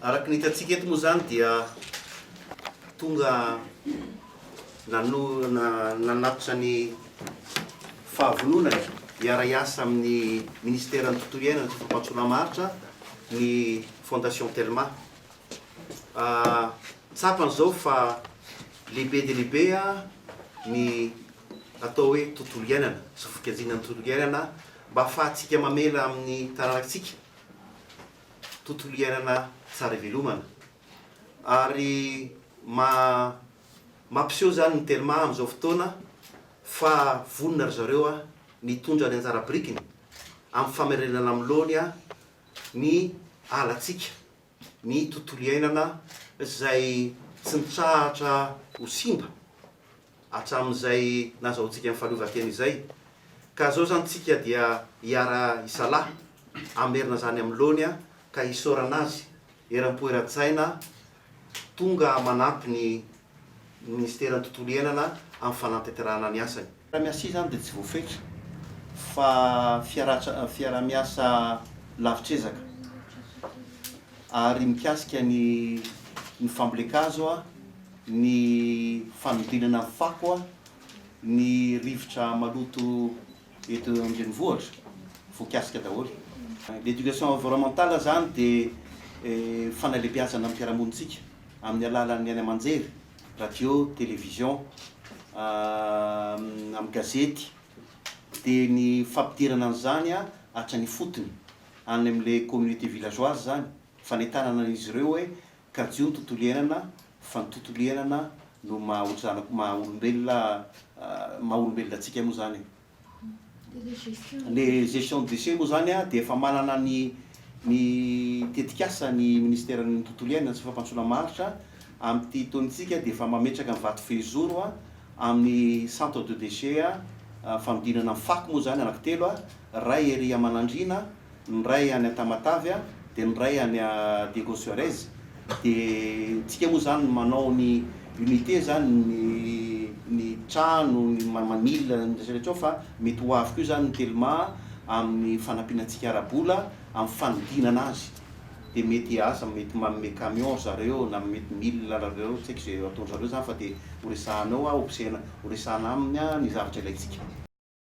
Araka ny hitantsika eto moa izany dia tonga Nanatitra ny fahavononany hiara-hiasa amin'ny Minisiteran'ny Tontolo Iainana sy Fampandrosoana Maharitra ny Fondation Telma. Tsapany izao fa lehibe dia lehibe ny atao hoe tontolo iainana sy fikajiana ny tontolo iainana mba hahafahantsika mamela amin'ny taranak'tsika tontolo iainana tsara ivelomana. ary mampiseho izany ny Telma amin'izao fotoana fa vonona ry zareo ny hitondra ny anjara birikiny amin'ny famerenana amin'ny laoniny ny alantsika, ny tontolo iainana izay tsy mitsahatra ho simba. hatramin'izay nazahoantsika ny fahaleovantena izay, ka izao izany tsika dia hiara hisalahy, hamerina izany amin'ny laony ka hisaorana azy eram-po eran-tsaina tonga manampy ny Ministeran'ny Tontolo Iainana amin'ny fanatanterahana ny asany. Fiaraha-miasa izany dia tsy voafetra fa fiaraha-miasa lavitr'ezaka ary mikasika ny ny fambolen-kazo, ny fanodinana ny fako, ny rivotra maloto eto an-drenivohitra voakasika daholo. L'éducation environnementale izany dia fanalebiazana ny fiarahamonintsika amin'ny alalan'ny haino aman-jery, radio, télévision, amin'ny gazety, dia ny fampidirana an'izany hatrany ifotony, any amin'ilay communauté villageoise izany, fanentanana an'izy ireo hoe Kajio ny tontolo iainana fa ny tontolo iainana no maha ohatry zanako maha olombelona maha olombelona antsika moa zany e. Le gestion de déchets moa zany dia efa manana ny ny tetikasa ny ministeran'ny tontolo iainana sy fampandrosoana maharitra amin'ity taonintsika dia efa mametraka ny vato fehizoro amin'ny centre de déchets fanodinana ny fako moa zany anaky telo ray ery aman'andriana ny iray any Tamatave a, dia ny iray any Diego Suarez, dia tsika moa zany manao ny unité zany ny ny trano ny manila ny resaka tsao fa mety ho avy koa izany ny telma amin'ny fanampiana antsika ara-bola amin'ny fanodinana azy dia mety aza mety manome camion ry zareo na mety mila ry zareo tsy haiko izay ataon'izareo izany fa dia horesahana eo a hobsehana horesahana aminy a ny zavatra ilaintsika.